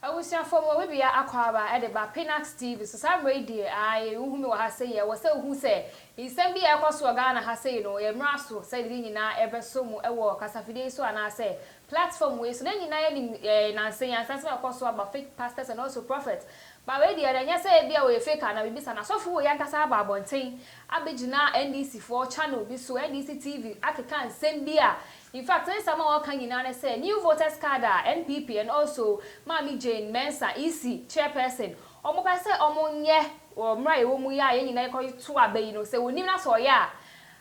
Abusuafo mo bebia akwaaba de ba Pinax TV so saa mmerɛ yi deɛ ae wohu me wɔ ha sɛyi ɛwɔ sɛ wohu sɛ nsɛm bi a ɛkɔ so wɔ Ghana ha sɛyi no yɛ mmra so sɛde ne nyinaa ɛbɛ so mo ɛwɔ kasafidie yi so anaa sɛ platform wei so na nyinaa yɛ nim yɛ nansa yi ansa sɛ ɛkɔ so aba fake pastors and also prophets Ma wei deɛ, na ɛnyɛ sɛ ebia ɔyɛ fake anaa biribi saa, n'asɔfo wei ankasa aba abɔnten abɛgyina NDCfoɔ channel bi so, NDC TV, akeka nsɛm bi a, in fact, ne nsɛm a wɔka nyinaa ne sɛ, new voters card a NPP and also Maame Jane Mensah, EC, chairperson, wɔpɛ sɛ wɔyɛ wɔ mmerɛ a yɛwɔ mu yi a yɛn nyinaa yɛkɔto aba yi no, sɛ ɔnnim na sɛ ɔyɛ a,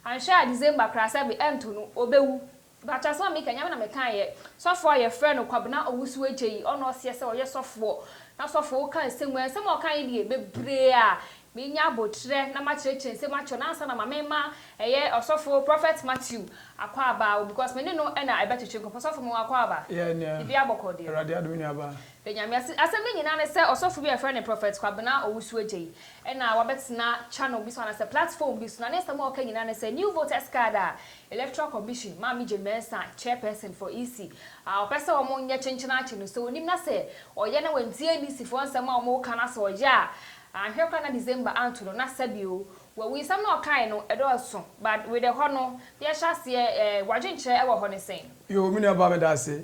anhwɛ a December koraa sɛbe ɛnto no, ɔbɛwu. Bakyɛ asɛm a meka yi nyame na mekaa yɛ, sɔfoɔ a yɛfrɛ no Kwabena Owusu Agyeyi ɔna ɔseɛ sɛ ɔyɛ sɔfoɔ na sɔfoɔ woka nsɛm yi a nsɛm a ɔka yi deɛ bebree a menya abotrɛ na makyerɛkyerɛ nsɛm akyerɛ no ansa na ma mema ɛyɛ ɔsɔfoɔ Prophet Matthew Akwaaba wo because me ne no na ɛbɛtwetwe nkɔmɔ ɔsɔfoɔ mewɔ Akwaaba Yeah nea biribiara bɔkɔɔ deɛ Awurade adom nua baa. Da nyame ase asɛm no nyinaa ne sɛ ɔsɔfoɔ bi a yɛfrɛ no Prophet Kwabena Owusu Agyeyi ɛna wabɛtena channel bi so anaa sɛ platform bi so na ne nsɛm a ɔka nyinaa ne sɛ New Voters Card a Electoral Commission, Maame-Jane Mensah, Chairperson for EC, a ɔpɛ sɛ wɔn nyɛ kyenkyen akye no, sɛ onim na sɛ ɔyɛ na wantie NDC foɔ nsɛm a wɔn reka na sɛ ɔyɛ a, anhwɛ koraa na December anto no na sɛbi o, wawu. Nsɛm no a ɔkaeɛ no, ɛdɔɔso, but wedɛ hɔ no, yɛhyɛ aseɛ, eh, w'adwenkyerɛ ɛwɔ hɔ ne sɛn? Yoo, me nua baa meda ase.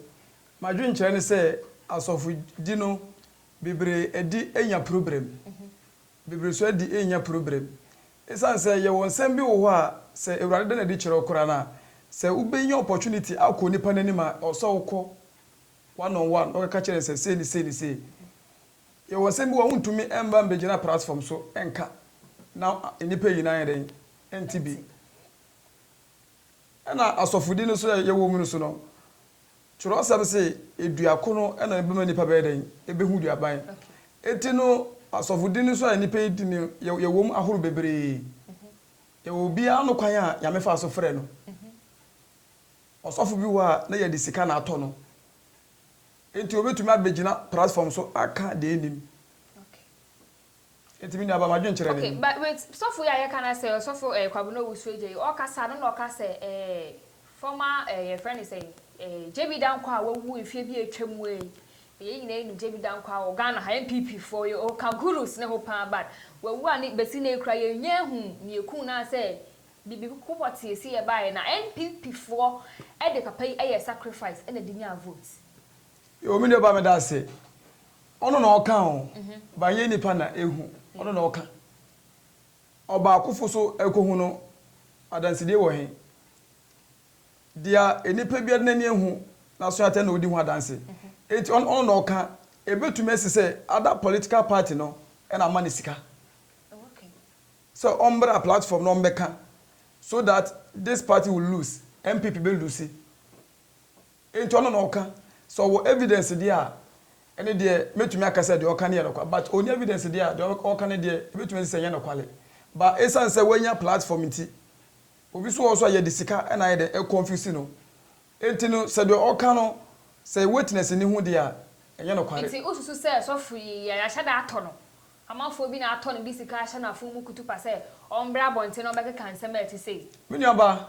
M'adwenkyerɛ ne sɛ asɔfodi no bebree adi anya problem. Bebree-soadi nnya probrɛm. Esiane sɛ yɛwɔ nsɛm bi wo hɔ a sɛ Awurade da no adi kyerɛ wo koraa no a, sɛ wobɛnya opportunity akɔ nipa no anim a, ɛwɔ sɛ wokɔ one on one na wokɛka kyerɛ no sɛ sei ne sei ne sei. Yɛwɔ nsɛm bi wɔ hɔ a wontumi mba mbɛgyina prasfɔm so nka na nnipa nyinaa ayɛ dɛn? Nte bi. Ɛna asɔfodi no so a yɛwɔ mu no so no, Kyerɛwsɛm se, Dua ko no na ɛbɛma nnipa bɛyɛ dɛn? Ebehu duaban. Enti no, asɔfodi no so a nnipa yi di no, yɛ, yɛwom ahorow bebree. Yɛwɔ obiara no kwan a Nyame faa so frɛɛ no. Ɔsɔfo bi wɔ hɔ a, na yɛde sika na atɔ no. Enti obetumi abegyina prasfɔm so aka deɛ ennim. Enti me nuaba, m'adwene kyerɛ ne. Okay but wait, sɔfo yi a yɛka no asɛ, ɔsɔfo eh, Kwabena Owusu Agya yi, ɔɔkasa no na ɔka sɛ eh, former eh, yɛfrɛ no sɛn, eh, JB Dankwah a wawu mfeɛ bi a atwa mu ei, yɛn nyinaa yɛnim JB Dankwah wɔ Ghana ha, NPP foɔ, yɛ ɔɔka gurus ne ho paa but wawu a ne, bɛsi nnɛ yi koraa yɛnnya ahu nea ɛkum no anasɛ biribi ko pɔtee si yɛ baeɛ na NPP foɔ de papa yi yɛɛ sacrifice na de nyaa vote. Yo me nua ba meda ase. Ɔno na ɔka o but ɛnyɛ nipa na ehu ɔno na ɔka. Ɔbaakofo so ɛkɔhu no adansedie wɔ he? Dia enipa biara n'ani ehu naso atɛ na odi ho adanse. Enti ɔno na ɔka ebetumi asi sɛ other political party no na ama no sika sɛ ɔmbra platform na ɔmbɛka so that this party will lose, NPP bɛ lose. Nti ɔno na ɔka, sɛ ɔwɔ evidence deɛ a, ɛne deɛ mɛtumi aka sɛ deɛ ɔka no yɛ nokwale, but ɔnni evidence deɛ a, deɛ ɔka no deɛ ɛbɛtumi asi sɛ ɛnyɛ nokwale. But ɛsiane sɛ wanya platform nti, obi nso wɔ hɔ nso a yɛde sika na ayɛ dɛ, ɛconfuse no. Nti no, sɛ deɛ ɔka no, sɛ yɛ witness nni ho deɛ a, ɛnyɛ nokware. Nti wosusu sɛ sɔfo yi, yɛahyɛ da atɔ no, amanfoɔ bi na atɔ no de sika ahyɛ no afono mu kutupa sɛ ɔmbrɛ abɔnten na ɔbɛkeka nsɛm a ɛte sei? Me nuabaa,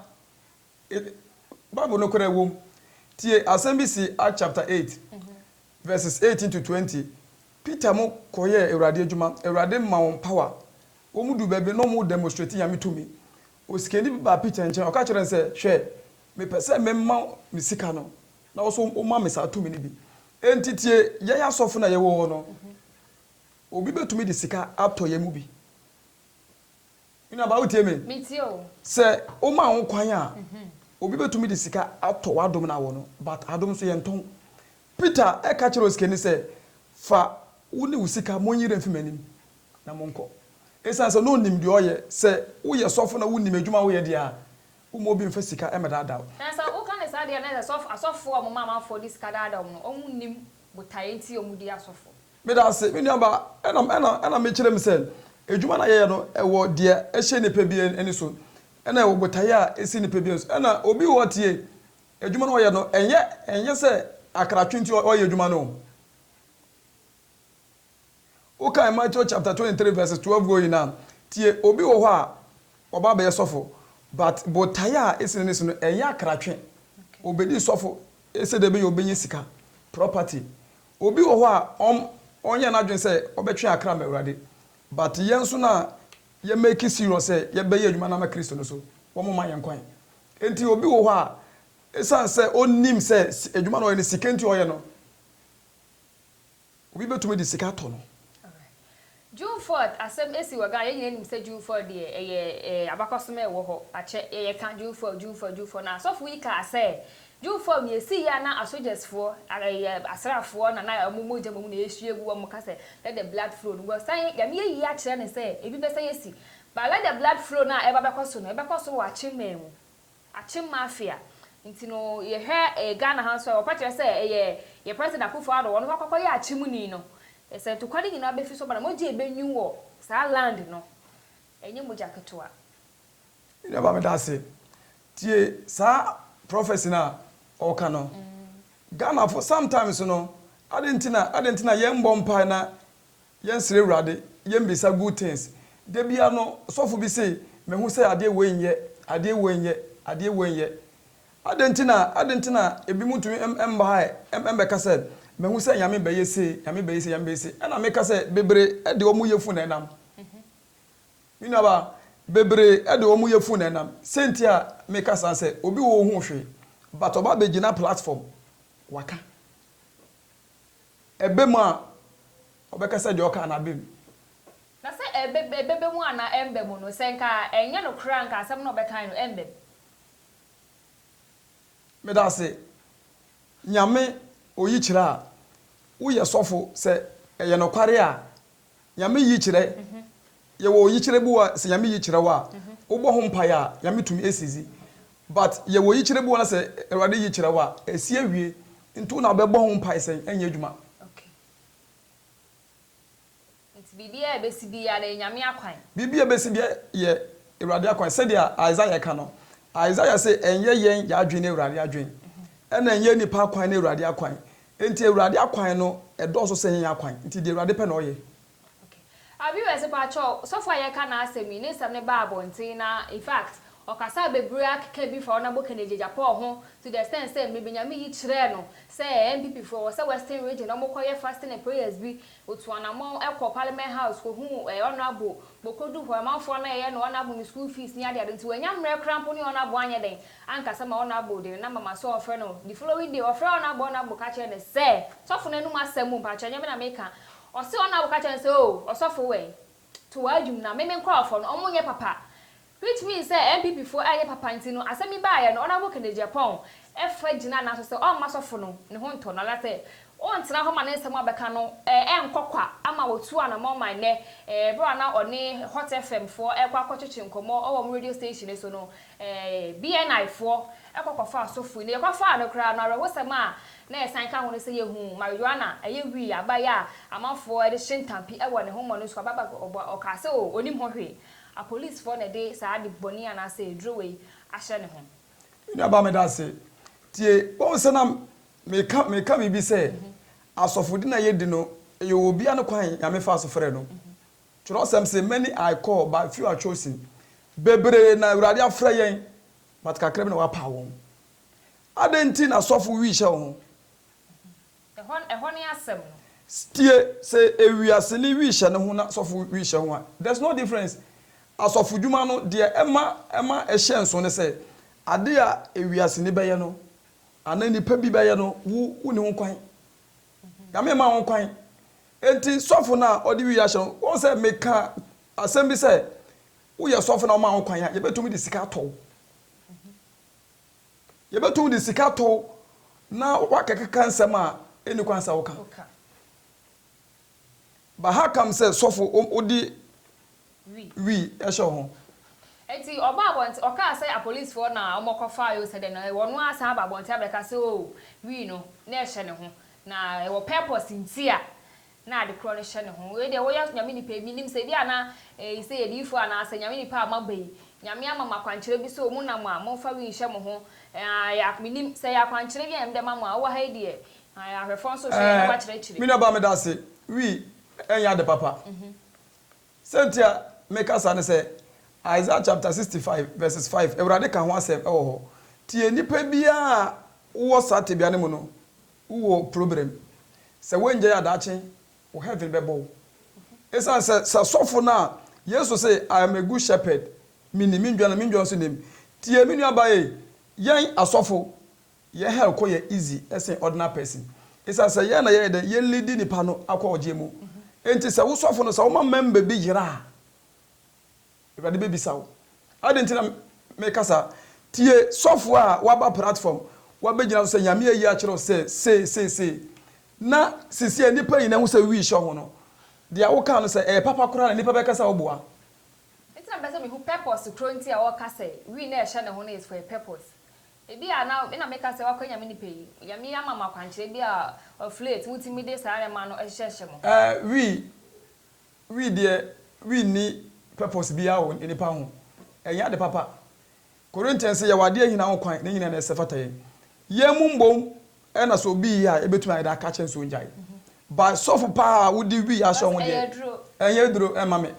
Bible nokorɛ wom. Tie asɛm bi si Acts chapter eight verses eighteen to twenty. Peter mo kɔyɛɛ Awurade adwuma. Awurade ma wɔn power. Wɔn duu baabi na wɔn demonstrate Nyame tumi. Osikani bi baa Peter nkyɛn, ɔka kyerɛɛ no sɛ, Hwɛ, mepɛ sɛ me ma me sika no, na wo nso wo ma me saa tumi no bi. Enti tie, yɛn asɔfo no a yɛwɔ hɔ no, obi betumi de sika atɔ yɛn mu bi. Me nuabaa wotie me? Metie o. Sɛ womaa ho kwan a, obi bɛtumi de sika atɔ w'adom no awɔ no, but adom nso yɛntɔn. Peter ka kyerɛɛ osikani sɛ, Fa wo ne wo sika, monyi werɛ mfi m'anim, na monkɔ. Esiane sɛ na onim deɛ ɔyɛ, sɛ woyɛ sɔfo na wonim adwuma a woyɛ deɛ a, womma obi mfa sika mmɛdaadaa wo. Na sɛ woka no saa deɛ a, na ɛsɛ sɛ asɔfoɔ a wɔma amanfoɔ de sika daadaa wɔn no, wɔnnim botaeɛ nti a wɔdi asɔfo. Meda ase, me nuabaa. Ɛna, ɛna, ɛna mekyerɛ mu sɛ, adwuma no a yɛyɛ no, ɛwɔ deɛ ɛhyɛ nnipa bi ani so, ɛna ɛwɔ botaeɛ a ɛsi nnipa bi ani so. Ɛna obi wɔ hɔ tie, adwuma no a ɔyɛ no, ɛnyɛ, ɛnyɛ sɛ akratwe nti ɔyɛ adwuma no o. Wokan Matthew chapter twenty three verses twelve going a, tie, obi wɔ hɔ a, ɔba abɛyɛ sɔfo, but botaeɛ a ɛsi n'ani so no, ɛnyɛ akratwe. Ɔbɛdi sɔfo sɛdeɛ ɛbɛyɛ a ɔbɛnya sika, property, Obi wɔ hɔ a ɔm ɔnyɛ n'adwen sɛ ɔbɛtwe akra ama Awurade but yɛn nso na yɛ make serious sɛ yɛbɛyɛ adwuma no ama Kristo no so wɔn ma yɛn kwan nti obi wɔ hɔ a ɛsiane sɛ ɔnnim sɛ adwuma no ɔyɛ no sika nti ɔyɛ no obi bɛtumi de sika atɔ no. June fourth asɛm si wɔ Ghana, yɛn nyinaa nim sɛ June fourth deɛ ɛyɛ abakɔsem a ɛwɔ hɔ, akyɛ yɛka June fourth, June fourth, June fourth, na asɔfo yi kaa sɛ June fourth no yɛsii yɛ a na asogyɛs foɔ, asraafoɔ na na wɔn mogya mmom na yɛsua agu, wɔn ka sɛ let the blood flow no, wɔsan Nyame ayi akyerɛ no sɛ ɛbi bɛsan asi, but let the blood flow no a ɛreba bɛkɔ so no ɛbɛkɔ so wɔ akyemmaa mu. Akyem mafia nti no yɛhwɛ Ghana ha nso a wɔka kyerɛ sɛ ɛyɛ yɛn President Akuffo Addo ɔno wakɔkɔ yɛ akyem ni no sɛ ntokwa no nyinaa bɛfi so aba na mogya a ɛbɛnwin wɔ saa land no ɛnyɛ mogya ketewa. Me nuaba meda ase tie saa prophecy no a ɔka no. Ghanafo sometimes no adɛn nti na adɛn nti na yɛn mmɔ mpae na. Yɛn srɛ awurade yɛn bisa good things da biara no sɔfo bi se me ho sɛ adeɛ wei nyɛ adeɛ wei nyɛ adeɛ wei nyɛ adɛn nti na adɛn nti na ebi mo ntumi mbaɛ mbɛka sɛ me ho sɛ nyame bɛyɛ sei nyame bɛyɛ sei nyame bɛyɛ sei ɛna me ka sɛ bebree de ɔmo yɛfu na ɛnam me nua ba bebree de ɔmo yɛfu na ɛnam sɛ nti a me ka saa sɛ obi wɔ ohun hwee but ɔba bɛ gyina platform waka. ɛba mu a, ɔbɛka sɛ deɛ ɔkaa no aba mu. Na sɛ ɛbɛ, ɛbɛba mu anaa ɛmba mu no, sɛ nka ɛnyɛ nokorɛ a, nka asɛm no a ɔbɛkae no ɛmba mu. Medase Nyame oyikyerɛ a woyɛ sɔfo sɛ ɛyɛ nokware a Nyame yikyerɛ, yɛwɔ yikyerɛ bi wɔ sɛ Nyame yikyerɛ wo a, wobɔ ho mpaeɛ a, Nyame tumi ɛsi dzi. But yɛwɔ yikyerɛ bi wɔ na sɛ Awurade yikyerɛ wo a, ɛsi awie. Nti wo na wobɛbɔ ho mpaeɛ sɛ ɛnyɛ adwuma. Okay. Nti biribiara a ɛbɛsi biara no, ɛyɛ Nyame akwan. Biribiara a ɛbɛsi biara yɛ Awurade akwan. Sɛdeɛ Isaiah ka no, Isaiah se, ɛnyɛ yɛn yɛadwen ne Awurade adwen. Ɛna ɛnyɛ nnipa akwan ne Awurade akwan. Enti Awurade akwan no dɔɔso sen yɛn akwan, nti deɛ Awurade pɛ na ɔyɛ. Ok ah viewers mpakyɛw sɔfo a yɛka n'asɛm yi ne nsɛm no baa abɔnten na infact ɔkasaa bebree akeka bi fa Honourable Kennedy Agyapong ho to the extent sɛ Mmebinyame yi kyerɛɛ no sɛ NPP foɔ wɔ sɛ western region na wɔkɔ yɛ fasting and prayers bi Otuu anamɔn kɔɔ Parliament House kɔhuu ɛɛ Honourable Bokodu hɔ, amanfoɔ no reyɛ no Honourable no school fees ne adeade nti wannya mmerɛ koraa mpo ne Honourable anyɛ dɛn ankasa ma Honourable de ne number ma sɛ ɔmfrɛ no The following day ɔfrɛɛ Honourable Honourable ka kyerɛɛ no sɛ Sɔfo no anum asɛm o mpakyɛ ɛnyɛ me na meka Ɔse Honourable ka kyerɛɛ no sɛ oo Ɔsɔfo wɛn to w'adwum na me me nkorɔfoɔ no ɔmo nyɛ papa Which means sɛ NPP foɔ ɛnyɛ papa nti no asɛm yi baeɛ no Honourable Kennedy Aponn ɛfa gyina nan so sɛ ɔmma sɔfo no ne ho ntɔ no anasɛ ɔntena hɔ ma ne nsɛm a ɔbɛka no ɛnkɔ kwa ama ɔtuu anamɔn ma ɛnnɛ berɛ a na ɔne Hot FM foɔ ɛrekɔ akɔtwetwe nkɔmmɔ wɔ wɔn radio station no so no BNI foɔ kɔ kɔfaa sɔfo yi na yɛkɔ faa no koraa no awerɛhosɛm a na yɛsan ka ho no sɛ yɛhuu marijuana ɛyɛ wii abaeɛ a amanfoɔ ɛde hye ntampi ɛwɔ ne ho ma no nso aba ba ɔkaa sɛ oo ɔnim ho hwee Apolisfoɔ na ɛde saa ade bɔne anaasɛ aduro wei ahyɛ ne ho. Me nua baa meda ase tie wahu sɛ na meka meka biribi sɛ asɔfodi na yɛdi no ɛyɛ wɔ obia no kwan nyame faa so frɛ no kyerɛwsɛm se many are call but few are chosen bebree na awurade afrɛ yɛn but kakra bi na wapaw wɔn adɛn nti na sɔfo wi hyɛ wo ho. Ɛhɔ ɛhɔ ne asɛm no. Tie sɛ ewiaseni wiihyɛ no ho na sɔfo wiihyɛ ho a, there's no difference. Asɔfodwuma no, deɛ ɛma ɛma ɛhyɛ nso ne sɛ, ade a ewiaseni bɛyɛ no, anaa nnipa bi bɛyɛ no, wo wonni ho kwan. Nyame mma ho kwan. Enti sɔfo no a ɔde wiiɛ ahyɛ no, wohu sɛ meka asɛm bi sɛ, woyɛ sɔfo na wɔma wo kwan a, yɛbɛtumi de sika atɔ wo. Yɛbɛtumi de sika tow na woakɛkeka nsɛm a ɛnni kwan sɛ woka. Bahaakam sɛ sɔfo wode wi hyɛ wo ho. Enti ɔbaa abɔnten, ɔkaa sɛ apolisifoɔ na wɔkɔfaeɛ o sɛ dɛn na ɔno ara san aba abɔnten abɛka sɛ o wi no na ɛhyɛ ne ho na ɛwɔ purpose nti a na ade korɔ no hyɛ ne ho. Wei deɛ wo yɛ Nyame nipa yi, me nim sɛ ebi a na eyi sɛ yɛ diyifoɔ anaa sɛ Nyame nipa a mo aba yi, Nyame ama mo akwankyerɛ bi sɛ omu nam a, mo fa wi nhyɛ mo ho, aah, me nim, sɛ ɛyɛ akwankyerɛ bi a Nyame de ama mo a, wo wɔ ha yi deɛ, aah, ahwɛfoɔ nso hwɛ yɛn na wa kyerɛ kyere. Me nua baa me da ase, wi ɛnyɛ ade papa, sɛ nti a me ka saa ne sɛ, Isaiah chapter 65 verses 5 Awurade ka ho asɛm wɔ hɔ, tie nipa biara a wo wɔ saa tebea no mu no, Wo wɔ problem. Sɛ wo ngyae a daakye wo heaven bɛbɔ wo. Ɛsiane sɛ sɛ sɔfo no a Yesu se I am a good shepherd, me nim me ndwan na me ndwan nso nim. Tie me nua baa ei, yɛn asɔfo yɛn hell kɔ yɛ easy sen ordinary person. Ɛsiane sɛ yɛn na yɛyɛ dɛn yɛ leadi nipa no akɔ ɔgyeɛ mu. Ɛnti sɛ wo sɔfo no sɛ wo ma member bi yera a. Awurade bɛbisa wo, Adɛn nti na meka saa? Tie sɔfoɔ a waba platform, wabɛgyina so sɛ, Nyame ayi akyerɛ wo sɛ sei, sei, sei. Na seesei nnipa nyinaa hu sɛ wish ɔho no, deɛ wokaa no sɛ ɛyɛ papa koraa na nnipa bɛka sɛ woboa. Nti na mepɛ sɛ mehu purpose korɔ nti a ɔka sɛ wii na ɛhyɛ ne ho no is for a purpose. Ebia na me na meka sɛ wakɔ Nyame nipa yi, Nyame ama mo akwankyerɛ bi a of late motumi de saa nneɛma no hyehyɛhyɛ mo ho. Ɛɛ wii, Wii deɛ wii nni purpose biaa wɔ nnipa ho. Ɛnyɛ ade papa. Corinthians se yɛwɔ adeɛ ahina ho kwan ne nyina na ɛsɛ fata yɛn. Yɛn mu mbom na sɛ obi yɛ a yɛbɛtumi ayɛ dɛ aka akyerɛ no sɛ ɔngyae. But sɔfo paa a wode wii ahyɛ ho deɛ ɛnyɛ duro mma me.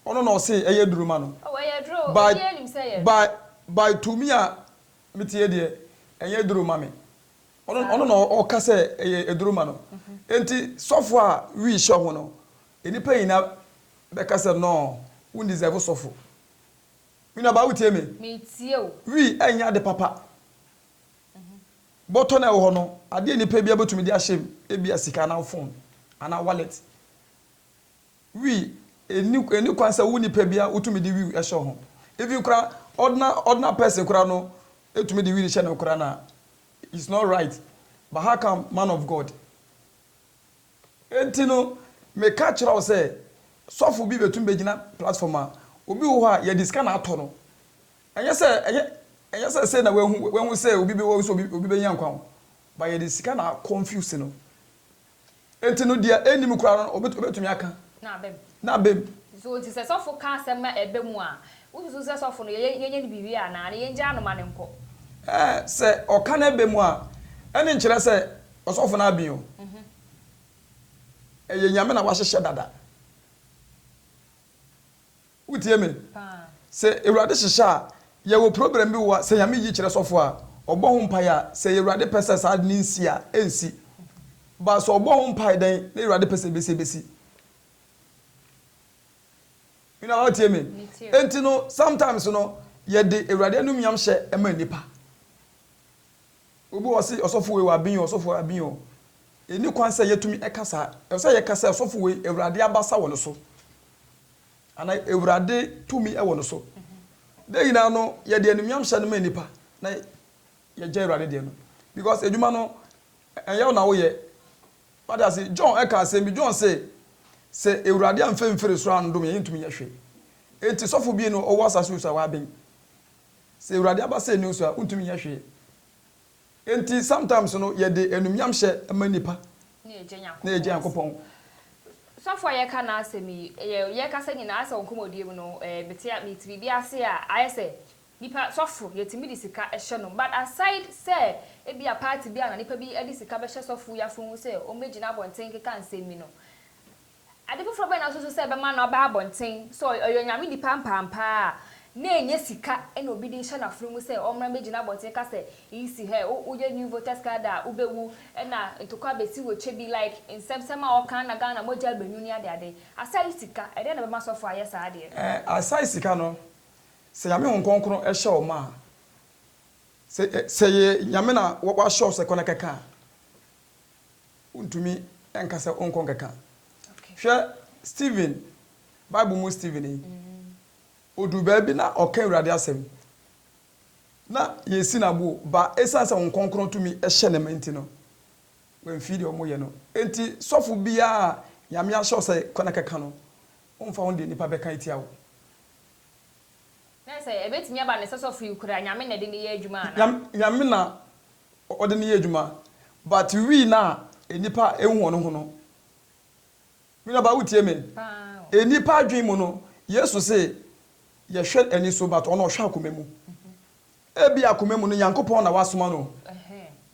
Ɔno na ɔse ɛyɛ duro ma no. By by by to me a meteɛ deɛ ɛnyɛ duro ma me. Ɔno ɔno na ɔka sɛ ɛyɛ aduro ma no. Enti sɔfo a wii hyɛ ho no, nnipa nyinaa bɛka sɛ no wo deserve sɔfo. Me nuabaa wotie me? Metie wo. Wii ɛnyɛ ade papa. Bɔtɔ no a ɛwɔ hɔ no, adeɛ a nipa biara bɛtumi de ahyɛ mu, ebia sika anaa phone anaa wallet. wii ɛnni ɛnni kwan sɛ wo nipa biara wotumi de wii hyɛ wo ho even koraa ordinary ordinary person koraa no ɛtumi de wii hyɛ no koraa na it's not right but how come man of God ɛnti no meka kyerɛ wo sɛ sɔfo bi bɛtumi bɛgyina platform a obi wɔ hɔ a yɛde sika na atɔ no ɛnyɛ sɛ ɛnyɛ ɛnyɛ sɛ sɛ na wahu wahu sɛ obi bɛ wahu sɛ obi obi bɛnya nkwa ho but yɛde sika na confuse no. Enti no deɛ ɛnnim koraa no ɔbɛ ɔbɛtumi aka. Na aba mu. Na aba mu. So nti sɛ sɔfo ka asɛm na ɛba mu a, wosusu sɛ sɔfo no yɛyɛ yɛnyɛ no biribi anaa? Anaa yɛngyaa no ma no nkɔ? Ɛɛ, sɛ ɔka na ɛba mu a, ɛne nkyerɛ sɛ ɔsɔfo no aben o. Mhm. Ɛyɛ Nyame na wahyehyɛ dada. Wo tie me. Sɛ Awurade hyehyɛ a, yɛ wɔ program bi wɔ a, sɛ Nyame yi kyerɛ sɔfo a, ɔbɔ ho mpaeɛ a, sɛ Awurade pɛ sɛ saa ade no nsi a, ɛnsi. But sɛ ɔbɔ ho mpaeɛ dɛn na Awurade pɛ sɛ ɛbɛsi a, ɛbɛsi. Me nua, wo tie me. Ɛnti no, sometimes no, yɛ de Awurade anumnyam hyɛ ma nnipa. Obi wɔ hɔ ɔse, ɔsɔfo wei wɔ ben o, ɔsɔfo wei ben o. Ɛnni kwan sɛ yɛtumi ɛka saa. Ɛwɔ sɛ yɛka sɛ, ɔsɔfo wei, Awurade abasa wɔ ne so. Ana Awurade tumi wɔ no so. Dɛ nyinaa no yɛde animuam hyɛ no ma nnipa na yɛgya Awurade deɛ no because adwuma no ɛnyɛ wo na woyɛ. Wate ase? John ɛka asɛm bi, John se, sɛ Awurade amfa amfiri soro andom yɛn, yɛntumi nyɛ hwee. Enti sɔfo bi no ɔwɔ asase wɔ so a waben. Sɛ Awurade aba sɛ nni wo so a, wontumi nyɛ hwee. Enti sometimes no yɛde anumnyamhyɛ ma nnipa na yɛgya Nyankopɔn. Sɔfo a yɛka n'asɛm yi, yɛ yɛkasa nyinaa ayɛ sɛ wɔ nkɔmmɔdie mu no eh, mete a mete biribi ase a ayɛ sɛ nipa sɔfo yɛtumi de sika hyɛ no but aside sɛ ebi a party bi a na nipa bi de sika bɛhyɛ sɔfo yi afomu sɛ wɔn bɛgyina abɔnten keka nsɛm bi no, Ade foforo bɛn na wususu sɛ ɛbɛma no aba abɔnten? Sɛ ɔyɛ Onyame nipa ampaapa a, na ɛnyɛ sika na obi de hyɛ n'afuru mu sɛ ɔmmra mmegyina abɔnten ka sɛ eyi si ha ɛ, woyɛ new voters card a wubewu na ntɔkwa abesi wo kyɛ bi, like nsɛmsɛm a ɔka na Ghana mogya abennu ne adeade. Asai sika, ɛdɛn na ɛbɛma sɔfo ayɛ saa adeɛ no? Ɛɛ, Asai sika no, sɛ Nyame Honhom Kronkron hyɛ wo ma a, sɛ ɛyɛ Nyame na wahyɛ wo sɛ kɔ na kɛka a, wontumi nka sɛ wonkɔ nkɛka. Hwɛ Stephen, Bible mu Stephen yi. Ɔduu baabi na ɔka Awurade asɛm. Na yɛsi no aboɔ ba ɛsiane sɛ Honhom Kronkron tumi hyɛ ne ma nti no, wamfiri deɛ wɔyɛ no. Enti sɔfo biara a Nyame ahyɛ wo sɛ kɔ na kɛka no, womfa ho deɛ nnipa bɛka atia wo. Na sɛ ɛbɛtumi aba no, sɛ sɔfo yi kura, Nyame na ɛde no yɛ adwuma anaa? Nyame na ɔde no yɛ edwuma but wii no a enipa ehu hɔn ho no me nua baa wo tsie me enipa adwen mu no yesu se yɛhwɛ ani so but ɔno ɔhwɛ akoma mu ebi akoma mu no nyankopɔn na wasoma no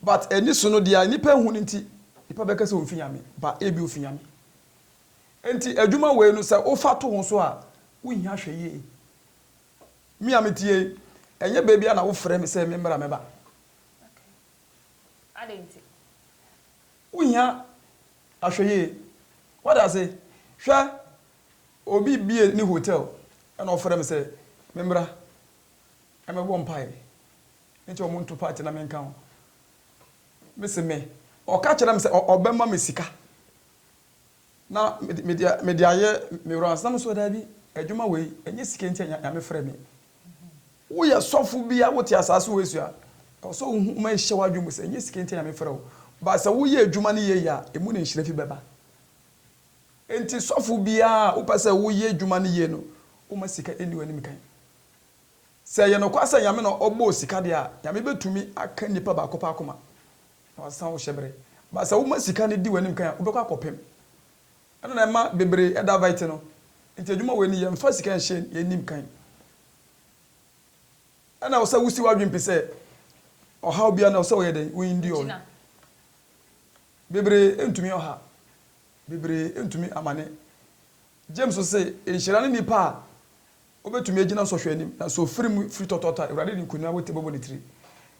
but ani so no dea enipa ehu no nti nipa bɛka sɛ onfi nyame ba ebi ofi nyame enti edwuma wei no sɛ wofa to ho so a wo hia hwɛ yie Me a mete ha yi, ɛnyɛ baabi a na wofrɛ me sɛ memmra mɛba. Okay. Adɛn nti? Wohia ahwɛyie. Wode ase? Hwɛ, obi bie ne hotel na ɔfrɛ me sɛ memmra mmɛbɔ mpaeɛ nti wɔn nto party na menka ho. Mese me, ɔka kyerɛ me sɛ ɔbɛma me sika. Na mede mede ayɛ me wura ansa na me nso daabi adwuma wei ɛnyɛ sika nti na nyame frɛ me woyɛ sɔfo bi a wote asaase wei so a ɛwɔ sɛ wohu ma ɛhyɛ w'adwene mu sɛ ɛnyɛ sika nti na nyame frɛ wo but sɛ woyɛ adwuma no yie a ɛmu na nhyira fi bɛba nti sɔfo biara a wopɛ sɛ woyɛ adwuma no yie no woma sika ɛnni w'anim kan sɛ ɛyɛ nokwasɛ nyame na ɔbɔɔ sika deɛ a nyame bɛtumi aka nipa baako pɛ akoma Na wɔasesan wo hyɛbere. But sɛ woma sika no di w'anim kan a, wobɛkɔ akɔpem. Ɛno na ɛma bebree davite no. Nti adwuma wei no, yɛmfa sika nhyɛ yɛn anim kan. Ɛna ɛwɔ sɛ wosi w'adwene pi sɛ ɔhaw biara no ɛwɔ sɛ woyɛ dɛn? Wo endure. Bebree ntumi ɔha. Bebree ntumi amane. James se, Nhyira ne nnipa a Wobɛtumi agyina sɔhwɛ anim, na so firi mu firi tɔtɔɔtɔ a Awurade de nkoni a wote bɛbɔ ne tiri.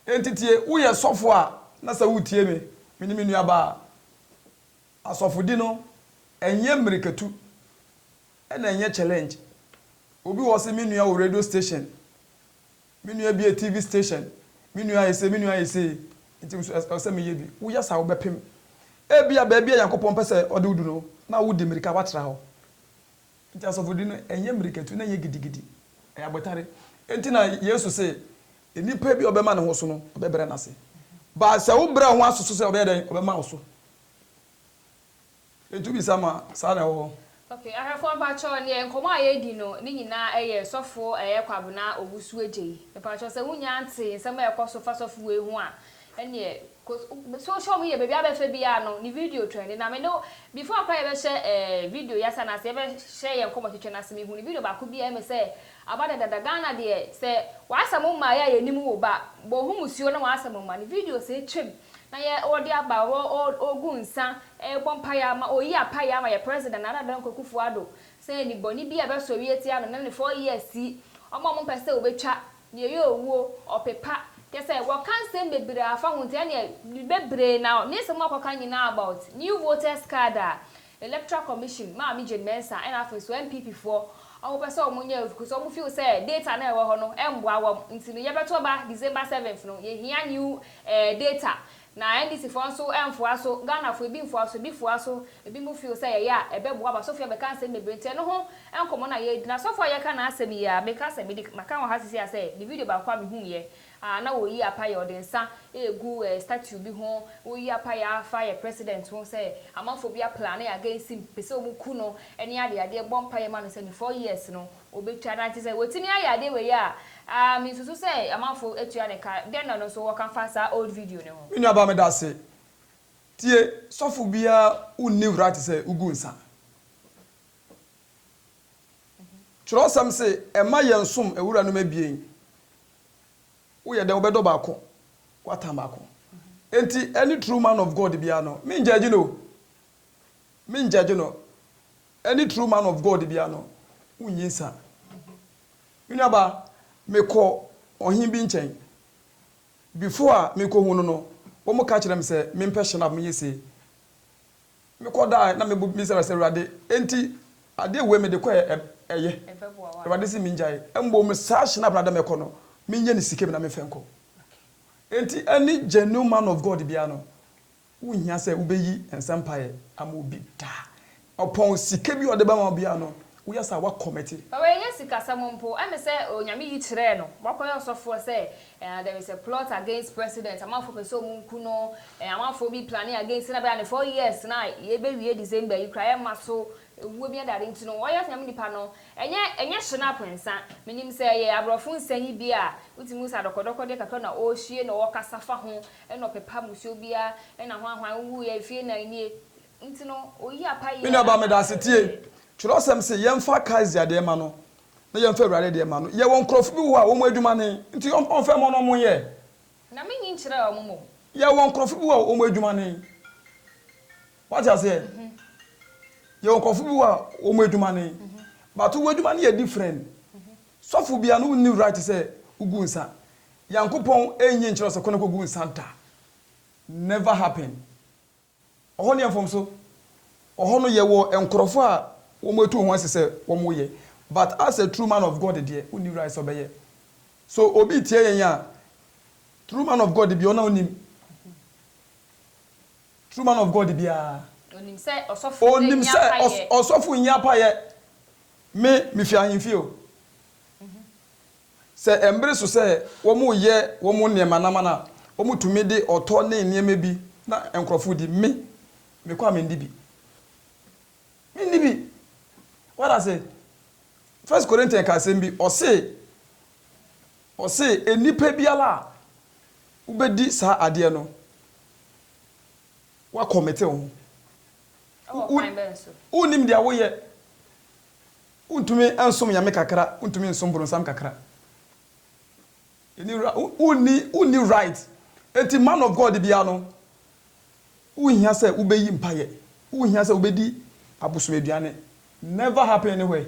Enti tie, woyɛ sɔfo a, na sɛ woretie me, me ne me nuabaa a, asɔfodi no, ɛnyɛ mmirikatu, ɛna ɛnyɛ challenge. Obi wɔ hɔ se, me nua wɔ radio station, me nua bi yɛ TV station, me nua ayɛ sei, me nua ayɛ sei, enti me nso ɛsɛ sɛ meyɛ bi. Woyɛ saa a, wobɛpem. Ebia baabi a Nyankopɔn pɛ sɛ ɔde wo du no, na wode mmirika, woatra hɔ. Enti asɔfodi no, ɛnyɛ mmirikatu na ɛnyɛ gidigidi. Ɛyɛ abotare. Enti na Yesu se, Nipa bi a ɔbɛma ne ho so no, ɔbɛbrɛ n'ase. But sɛ wobrɛ wo ho ase so sɛ ɔbɛyɛ dɛn? Ɔbɛma wo so. Enti wobisa ma saa na ɛwɔ hɔ. Okay, ahwɛfoɔ mpakyɛw, neɛ nkɔmmɔ a yɛredi no, ne nyinaa ɛyɛ Sɔfo ɛyɛ Kwabena Owusu-Adjei. Mpakyɛw sɛ wonnya ntee nsɛm a ɛkɔ so fa sɔfo wei ho a, Ɛneɛ cos so wohyɛ ɔmo yɛ baabi abɛfa biaa no ne video trɛndi na me ne wo before koraa yɛbɛhyɛ ɛɛ video yi ase anaasɛ yɛbɛhyɛ yɛn nkɔmɔ twetwe no ase mehu ne video baako bi a ɛyɛ me sɛ aba dadada Ghana deɛ sɛ w'asɛm mma yɛ a yɛnim wo ba bɔ ho musuo na w'asɛm mma ne video sɛ twam na yɛ ɔde aba ɔɔ ɔɔgu nsa ɛɛbɔ mpaeɛ ama ɔyi apaeɛ ama yɛ president Nana Addo Dankwa Akufo Addo sɛ nnibɔne biaa ɛbɛsɔre atia no ne ne four years yi ɔmo a ɔmo mpɛ sɛ ɔbɛtwa Deɛ ɛyɛ owuo, ɔpepa. Kyerɛ sɛ, wɔka nsɛm bebree afa ho nti, ɛnneɛ bebree na ne nsɛm a wɔkɔka nyinaa about new voters card a Electoral Commission, Maame Jane Mensah, ɛna afei nso NPP foɔ wɔpɛ sɛ wɔnyɛ o because wɔn feel sɛ data no a ɛwɔ hɔ no ɛmmoa wɔn nti no yɛbɛto aba December seventh no yɛhia new eh data Na NDC foɔ nso mfoa so, Ghana foɔ ebi mfoa so, ebi foa so, ebi mo feel sɛ yɛyɛ a ɛbɛboa mo, asɔfo yi abɛka nsɛm bebree nti ɛno ho nkɔmɔ na yɛredi, na asɔfo a yɛka n'asɛm yi a meka sɛ mede maka wɔ ha seesei a sɛ ne video baako a mehuiɛ a na ɔreyi apaeɛ ɔde nsa ɛregu statue bi ho, woyi apaeɛ afa yɛ president ho sɛ amanfoɔ bi aplane against him, pɛ sɛ wɔku no ne adeadeɛ, bɔ mpaeɛ ma no sɛ ne four years no. Wobɛtwa no a, kyerɛ sɛ watumi ayɛ adeɛ wei a, aah me nsusu sɛ amanfoɔ atua no ka, dɛn na ɔno nso wɔ ka fa saa old video no ho? Me nua baa me dase. Tie sɔfo biaa wo nni wura te sɛ wo gu nsa. Kyerɛwsɛm se ɛmma yɛn som awura nom abien. Wo yɛ dɛn wo bɛ dɔ baako wa tan baako. Enti any true man of God biaa no me njɛgye no o. Me njɛgye no. Any true man of God bia no wo nyi nsa. Me nua ba me kɔ ɔhen bi nkyɛn before a me kɔ hu no no wɔn ka kyerɛ me sɛ me mpɛ hyɛ no a me yɛ sei me kɔ da a na me bu me sra sɛ awurade enti adeɛ wei me de kɔ ɛ ɛyɛ awurade si me ngyae mmom saa hyɛ no a na da me kɔ no me nyɛ no sika bi na me fɛ nkɔ enti any genuine man of God bia no Wonhia sɛ wobɛyi nsa mpaeɛ ama obi da. Ɔpɔn sika bi a ɔde bɛma wo biara no, woyɛ saa a, woakɔmɛte. But wei nyɛ sikasɛm mpo, ɛne sɛ Onyame yi kyerɛɛ no, wakɔyɛ ɔsɔfoɔ sɛ eh, there is a plot against president, amanfoɔ pɛ sɛ ɔmo nku no, eh, amanfoɔ bi plane against no, na bɛyɛ a ne four years no a yɛbɛwie December yi koraa yɛmma so, ewuo bi adade nti no, ɔyɛ Onyame nipa no, ɛnyɛ, ɛnyɛ shinap nsa, menim sɛ ɛyɛ aborɔfo nsa yi bi a, wotumi hu sɛ adɔkɔdɔkɔdeɛ kakra na ɔɔhwie na ɔɔkasa fa ho, Ɛna ɔpepa mmusuo biara, ɛna hwan hwan wowuiɛ mfie nan nie, nti no ɔyi apayeɛ. Me nuabaa meda ase tie. Twerɛsɛm se yɛmfa Kaesar deɛ ma no na yɛmfa Awurade deɛ ma no. Yɛwɔ nkurɔfo bi wɔ hɔ a wɔn adwuma ne, nti ɔmfa mma no ɔmo nyɛ. Na me nyi nkyerɛɛ ɔmo mmom. Yɛwɔ nkurɔfo bi wɔ hɔ a wɔn adwuma ne. Wate aseɛ? Yɛwɔ nkurɔfo bi wɔ hɔ a wɔn adwuma ne. But w'adwuma no yɛ different. Sɔfo bia no nni right sɛ wogu nsa. Nyankopɔn nnye nkyerɛ sɛ kɔ na kɔgu nsa da. Never happen. Ɔhɔ no yɛ mfomso. Ɔhɔ no yɛwɔ nkorɔfo a wɔn atu wɔn ho ase sɛ wɔn yɛ. But as a true man of God deɛ wonni right sɛ ɔbɛyɛ. So obi tia yɛn a, true man of God biaa ɔno na ɔnim. True man of God biara. Onim sɛ ɔsɔfo sɛ nyi apaeɛ. Onim sɛ ɔsɔfo nyi apaeɛ. Me me fi ahenfie o. Sɛ ɛmbere so sɛ wɔn yɛ wɔn nneɛma nam no a wɔn tumi de ɔtɔ ne nneɛma bi na nkorɔfo di me me kɔ a me ndi bi. Me nni bi. Wate ase? First Corinthian ka asɛm bi ɔse ɔse nnipa biara a wo bɛ di saa adeɛ no Woakɔmete wo ho. Ɛwɔ kwan bɛn so? Wonnim deɛ woyɛ. Wontumi nsom Nyame kakra, wontumi nsom boronsam kakra. Wonni right. Enti man of God biara no, wonhia sɛ wobɛyi mpaeɛ. Wonhia sɛ wobɛdi abosom aduane. Never happen anywhere.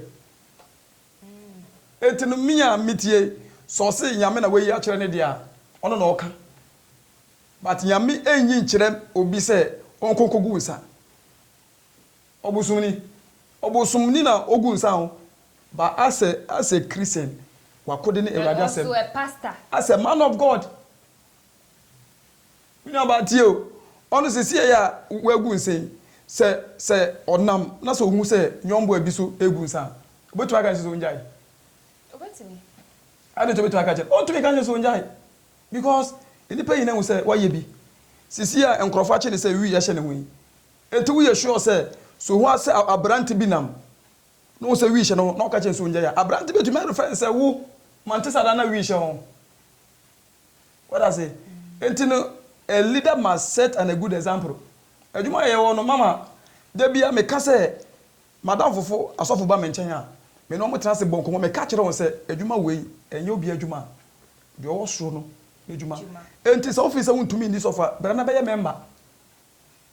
Enti no me a metie yi, sɛ ɔse Nyame na wayi akyerɛ no deɛ a, ɔno na ɔka. But Nyame nnyi nkyerɛ obi sɛ ɔnkɔ nkɔgu nsa. Ɔbosomni, ɔbosomni na ɔgu nsa o, but asɛ asɛ Christian, wakode ne Awurade asɛm. And also a pastor. Asɛ man of God. Me nuabaa tie o, ɔno sesieɛ a wagu nsa yi, sɛ sɛ ɔnam na sɛ ɔhu sɛ nyɔnboa bi so regu nsa a, ɔbɛtumi aka ne sɛ ɔngyae? Ɔbɛtumi. Adɛn nti ɔbɛtumi aka akyerɛ no? Ɔntumi nka nkyerɛ no sɛ ɔngyae. Because nnipa nyinaa hu sɛ wayɛ bi. Sisi a nkurɔfo akye no sɛ wii ahyɛ ne ho yi, enti woyɛ sure sɛ so hu a sɛ aberante bi nam na ohu sɛ wii hyɛ ne ho na ɔka kyerɛ no sɛ ongyae a, aberante betumi arefɛr no sɛ wo mante saa da na wii hyɛ wo ho? Wate ase? Enti no, a leader must set an a good example. Adwuma a yɛwɔ no, mama da biara meka sɛ, M'adamfofo asɔfo ba me nkyɛn a, me ne wɔn tena ase bɔ nkɔmmɔ. Meka kyerɛ wɔn sɛ, Adwuma wei, ɛnyɛ obiara adwuma, deɛ ɔwɔ soro no adwuma. Enti sɛ wofii sɛ wontumi nni sɔfo a, bra na bɛyɛ mɛmba.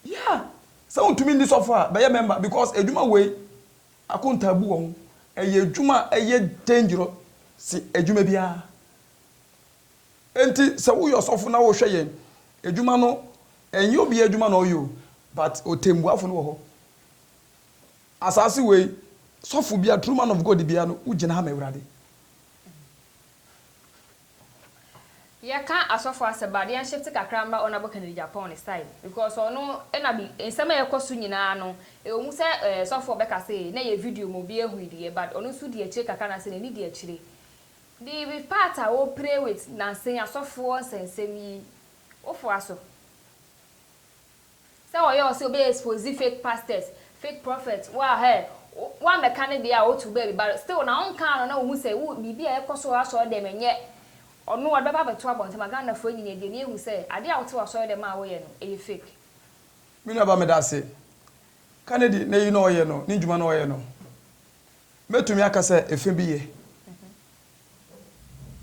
Yeah! Sɛ wontumi nni sɔfo a, bɛyɛ mɛmba because adwuma wei, akontaabu wɔ ho. Ɛyɛ adwuma a ɛyɛ dangerous sen adwuma biara. Enti sɛ woyɛ ɔsɔfo na worehwɛ yɛn adwuma no, ɛnyɛ obiara adwuma na ɔyɛ o, but ɔtɛmmuafo no wɔ hɔ. Asase wei sɔfo bia true man of God bia no wo gyina ha ma awurade. Yɛ ka asɔfo asɛm but yɛn shift kakra mma honourable Kennedy Agyapong ne style because ɔno na bi nsɛm a ɛkɔ so nyinaa no ɛwɔ mu sɛ ɛɛ sɔfo ɔbɛka sɛ na ɛyɛ video ma obi ahu yi deɛ but ɔno nso di akyire kakra anaasɛ n'ani di akyire the with part a wo pray with nansen asɔfoɔ nsɛnsɛm yi wo foa so. Sɛ ɔyɛ ɔsɛ ɔbɛ expose fake pastors, fake prophets wo a hey, wa mɛka ne deɛ a ɔtu baabi but still na ɔnkaa no na ɔhu sɛ wo biribi a ɛkɔ so wɔ asɔre dɛm ɛnyɛ ɔno ɔde bɛba abɛto abɔnten ma Ghana foɔ nyinaa die na yɛhu sɛ adeɛ a wote wɔ asɔre dɛm a woyɛ no ɛyɛ fake. Me nua ba meda ase. Kanedi n'ayi na ɔyɛ no, ne ndwuma na ɔyɛ no. Mɛtumi aka sɛ ɛfɛ bi yɛ.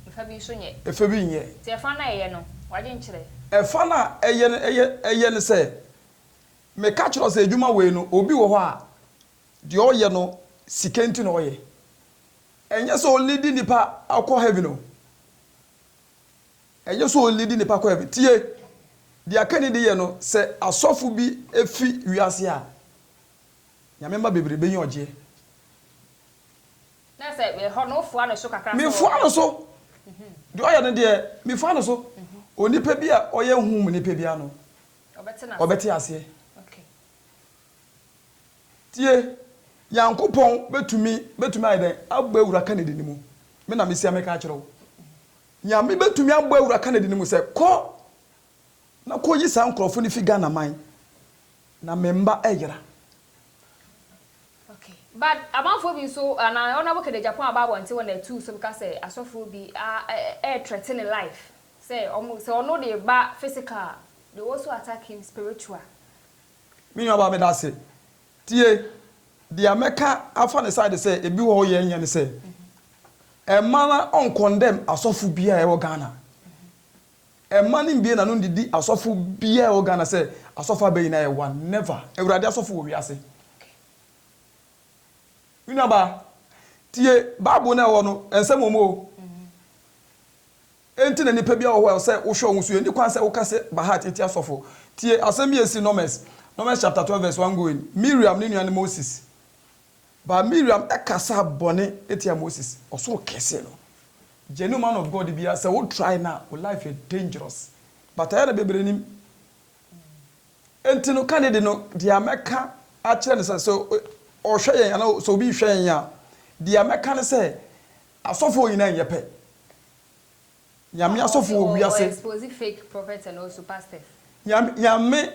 Ɛfa bi nso nyɛ. Ɛfa bi nyɛ. Nti ɛfa no a ɛyɛ no, w'adwenkyerɛ. Ɛfa no a ɛyɛ no, ɛyɛ, ɛyɛ no sɛ, meka kyerɛ wo sɛ adwuma wei no, obi wɔ hɔ a, deɛ ɔyɛ no, sika nti na ɔyɛ. Ɛnyɛ sɛ ɔlidi nnipa kɔ heaven o. Ɛnyɛ sɛ ɔlidi nnipa kɔ heaven. Tie! Deɛ aka ni deɛ no, sɛ asɔfo bi fi wiase a, Nyame mma bebree bɛnya ɔgyeɛ. Na sɛ mehɔ no, wofoa no so kakra sɛ ɔyɛ. Mefoa no so. Deɛ ɔyɛ no deɛ, mefoa no so. Onipa bi a ɔyɛ honhom mu nipa biara no, ɔbɛte aseɛ. Tie, Nyankopɔn bɛtumi, bɛtumi ayɛ dɛn? Abɔ awura Kennedy no mu. Me na mesia meka akyerɛ wo. Nyame bɛtumi abɔ awura Kennedy no mu sɛ, kɔ. na kɔ yi saa nkorɔfo no fi Ghana man na me mma ɛyera. Okay but amanfoɔ bi nso anaa honourable kɛdɛ Japan aba abɔnten hɔ na atuu so beka sɛ asɔfoɔ bi a ɛɛ threaten ne life sɛ ɔmo sɛ ɔno de ba physical a they will also attack him spiritual. Me nua baa medase tie dea mɛka afa ne side sɛ ebi wɔ hɔ yɛ nyɛ ne sɛ ɛmma ɔncondemn asɔfo biaa ɛwɔ Ghana Mma no mbie n'ano ndidi asɔfo biaa wɔ Ghana sɛ asɔfo abɛ nyinaa yɛ one, never, Ewurade asɔfo wɔ wiase. Me nuabaa, tie Bible no a ɛwɔ no nsɛm wɔ mu o. Enti na nipa biaa wɔ hɔ a ɛsɛ wohwɛ ɔho so, yɛnni kwan sɛ woka sɛ Bahat etia asɔfo. Tie asɛm bi a esi Numbers, Numbers chapter twelve verse one going, Miriam ne nua no Moses But Miriam kasaa bɔne tia Moses, ɔsoro kɛse no. Genuine man of God biara sɛ wo try no a wo life yɛ dangerous but ɛyɛ na bebree nim. Enti no ka ne de no deɛ mɛka akyerɛ no sɛ sɛ ɔhwɛ yɛn anaa sɛ obi rehwɛ yɛn a deɛ mɛka ne sɛ asɔfoɔ nyinaa nyɛ pɛ. Nyame asɔfo wɔ wiase. Nyame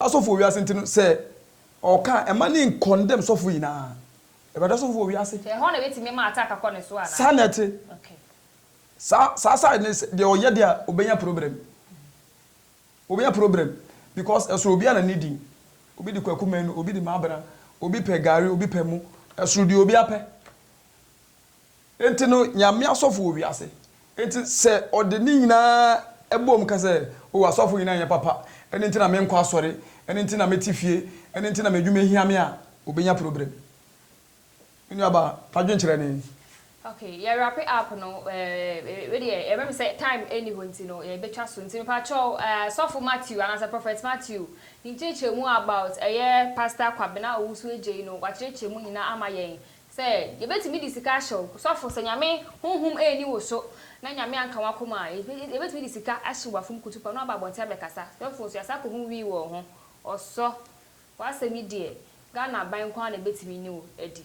Asɔfo wɔ wiase nti no, sɛ ɔka a, mma no nkɔndɛm sɔfo nyinaa. Awurade asɔfo wɔ wiase. Ɛhɔ na ebetumi ma attack akɔ ne so anaa? Saa na ɛte. Okay. Saa saa side no sɛ deɛ ɔyɛ deɛ a obenya problem. Obenya problem because ɛsoro obiara na ne din. Obi de Kwaku Manu, obi de Mabena, obi pɛ gari, obi pɛ mo. Ɛsoro deɛ obiara pɛ. Enti no, Nyame asɔfo wɔ wiase. Enti sɛ ɔde ne nyinaa bom ka sɛ, O, asɔfo nyinaa nyɛ papa, ɛno nti na menkɔ asɔre, ɛno nti na mete fie, ɛno nti na m'adwuma hia me a, obenya problem. Me nuabaa, fa dwen kyerɛ me. Okay, yɛ wrape up no, ɛɛ, wei deɛ, ɛbɛ me sɛ time ɛnni hɔ nti no, yɛ bɛtwa so. Nti mepa kyɛw, ɛɛ, Sɔfo Matthew, anaasɛ Prophet Matthew, ne nkyerɛkyerɛmu about ɛyɛ Pastor Kwabena Owusu-Adjei no, wakyerɛkyerɛ mu nyinaa ama yɛn. Sɛ yɛbɛtumi de sika ahyɛ wo sɔfo, sɛ Nyame honhom anni wo so na Nyame anka w'akoma a, yɛbɛtumi de sika ahye w'afom kutupa na waba abɔnten abɛkasa. Sɔfo nso yɛasan akɔ ho wii wɔ ho. Ɔsɔ, w'asɛm yi deɛ Ghana aban nko ara na ɛbɛtumi ne wo adi.